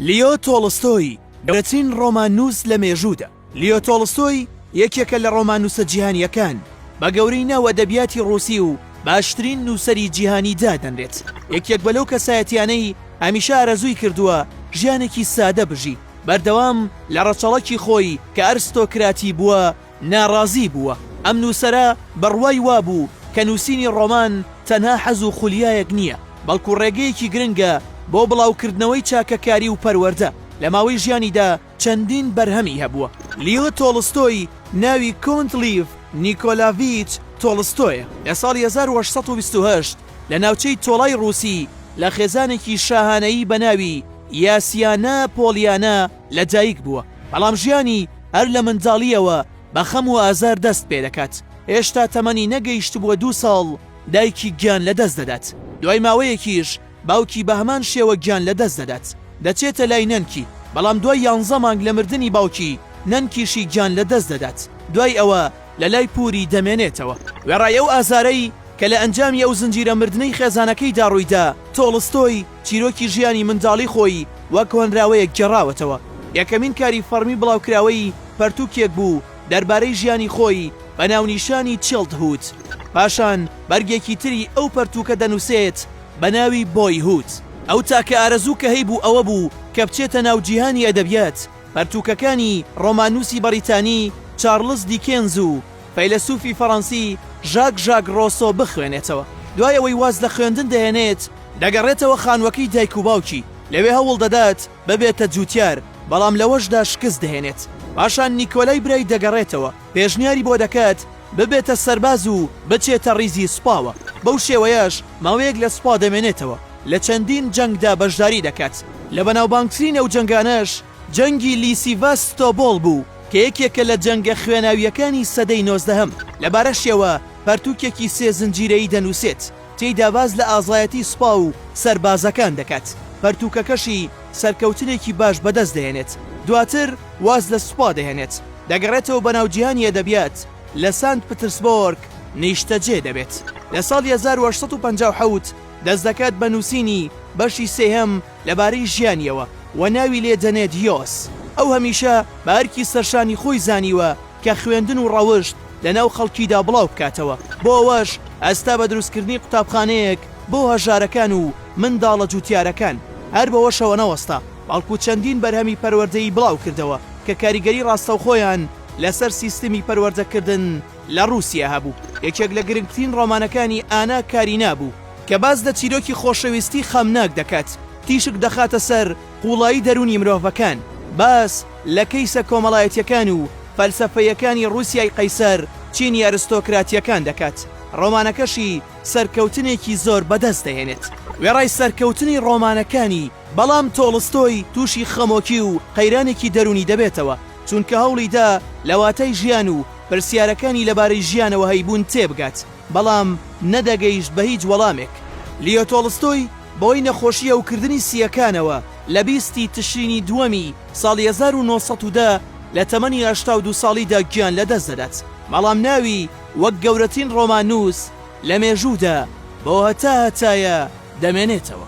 لیۆ تۆڵستۆی، گەورەترین ڕۆماننووس لە مێژوودا. لیۆ تۆڵستۆی یەکێکە لە ڕۆماننووسە جیهانییەکان، بە گەورەی ناو ئەدەبیاتی ڕووسی و باشترین نووسەری جیهانی دادەنرێت. یەکێک بە لەو کەسایەتییانەی هەمیشە ئارەزووی کردووە ژیانێکی سادە بژی، بەردەوام لە ڕەچەڵەکی خۆی کە ئەرستۆکراتی بووە، ناڕازی بووە. ئەم نووسەرە بڕوای وابوو کە نووسینی ڕۆمان تەنها حەز و خولیایەک نییە، بەڵکو ڕێگەیەکی گرنگە بۆ بڵاوکردنەوەی چاکەکاری و پەروەردە. لە ماوەی ژیانیدا چەندین بەرهەمی هەبووە. لیۆ تۆڵستۆی ناوی کۆنت لیڤ نیکۆلاڤیچ تۆڵستۆیە، لە ساڵی هەزار و هەشت سەد و بیست و هەشت لە ناوچەی تۆڵای ڕووسی لە خێزانێکی شاهانەیی بە ناوی یاسیانا پۆڵیانا لەدایک بووە، بەڵام ژیانی هەر لە منداڵییەوە بە خەم و ئازار دەست پێدەکات، هێشتا تەمەنی نەگەیشتبووە دوو ساڵ دایکی گیان لەدەست دەدات، دوای ماوەیەکیش باوکی بە هەمان شێوە گیان لەدەست دەدات، دەچێتە لای نەنکی، بەڵام دوای یانزە مانگ لە مردنی باوکی، نەنکیشی گیان لەدەست دەدات، دوای ئەوە لە لای پووری دەمێنێتەوە. وێڕای ئەو ئازارەی کە لە ئەنجامی ئەو زنجیرە مردنەی خێزانەکەیدا ڕوویدا، تۆڵستۆی، چیرۆکی ژیانی منداڵی خۆی وەک هۆنراوەیەک گێڕاوەتەوە. یەکەمین کاری فەڕمی بڵاوکراوەی پەرتووکێک بوو دەربارەی ژیانی خۆی بە ناونیشانی چیڵدهوود. پاشان بەرگێکی تری ئەو پەرتووکە دەنووسێت بە ناوی بۆیهوود. ئەو تاکە ئارەزوو کە هەیبوو ئەوە بوو کە بچێتە ناو جیهانی ئەدەبیات. پەرتووکەکانی ڕۆماننووسی بەڕیتانی چارڵز دیکێنز و فەیلەسوفی فەڕەنسی ژاک ژاک ڕۆسۆ بخوێنێتەوە، دوای ئەوەی واز لە خوێندن دەهێنێت دەگەڕێتەوە خانوەکەی دایک و باوکی، لەوێ هەوڵ دەدات ببێتە جوتیار، بەڵام لەوەشدا شکست دەهێنێت، پاشان نیکۆلای برای دەگەڕێتەوە پێشنیاری بۆ دەکات ببێتە سەرباز و بچێتە ڕیزی سوپاوە، بەو شێوەیەش ماوەیەک لە سوپا دەمێنێتەوە، لە چەندین جەنگدا بەشداری دەکات، لە بەناوبانگترین ئەو جەنگانەش. جەنگی لیسیڤاس ستۆبۆل بوو کە یەکێکە لە جەنگە خوێناوییەکانی سەدەی نۆزدەهەم، لەبارەشیەوە پەرتووکێکی سێ زنجیرەیی دەنووسێت، تێیدا باس لە ئازایەتی سوپا و سەربازەکان دەکات، پەرتووکەکەشی سەرکەوتنێکی باش بەدەست دەهێنێت، دواتر واز لە سوپا دەهێنێت، دەگەڕێتەوە بە ناو جیهانی ئەدەبیات، لە سانت پترسبۆرگ نیشتەجێ دەبێت، لە ساڵی هەزار و هەشت سەد و پەنجا و حەوت دەست دەکات بە نووسینی بەشی سێهەم لەبارەی ژیانیەوە و ناوی لێ دەنێت یۆس. ئەو هەمیشە بە ئەرکی سەرشانی خۆی زانیوە کە خوێندن و ڕەوشت لەناو خەڵکیدا بڵاو بکاتەوە، بۆ ئەوەش هەستا بە دروستکردنی قوتابخانەیەک بۆ هەژارەکان و منداڵە جوتیارەکان. هەر بەوەشەوە نەوەستا، بەڵکو چەندین بەرهەمی پەروەردەیی بڵاو کردەوە کە کاریگەری ڕاستەوخۆیان لەسەر سیستمی پەروەردەکردن، لە ڕووسیا هەبوو. یەکێک لە گرنگترین ڕۆمانەکانی ئانا کارینا بوو، کە باس لە چیرۆکی خۆشەویستی خەمناک دەکات، تیشک دەخاتە سەر قووڵایی دەروونی مرۆڤەکان، باس لە کەیسە کۆمەڵایەتییەکان و فەلسەفەییەکانی ڕووسیای قەیسەر، چینی ئەرستۆکراتییەکان دەکات، ڕۆمانەکەشی سەرکەوتنێکی زۆر بەدەست دەهێنێت. وێڕای سەرکەوتنی ڕۆمانەکانی، بەڵام تۆڵستۆی تووشی خەمۆکی و قەیرانێکی دەروونی دەبێتەوە، چونکە هەوڵی دا لە واتای ژیان و پرسیارەکانی لەبارەی ژیانەوە هەیبوون تێبگات، بەڵام نەدەگەیشت بە هیچ وەڵامێک. لیۆ تۆڵستۆی بەهۆی نەخۆشی هەوکردنی سییەکانەوە لە بیست ی تشرینی دووەمی ساڵی هەزار و نۆ سەد و دە لە تەمەنی هەشتا و دوو ساڵیدا گیان لەدەست دەدات، بەڵام ناوی وەک گەورەترین ڕۆماننووس لە مێژوودا بۆ هەتا هەتایە دەمێنێتەوە.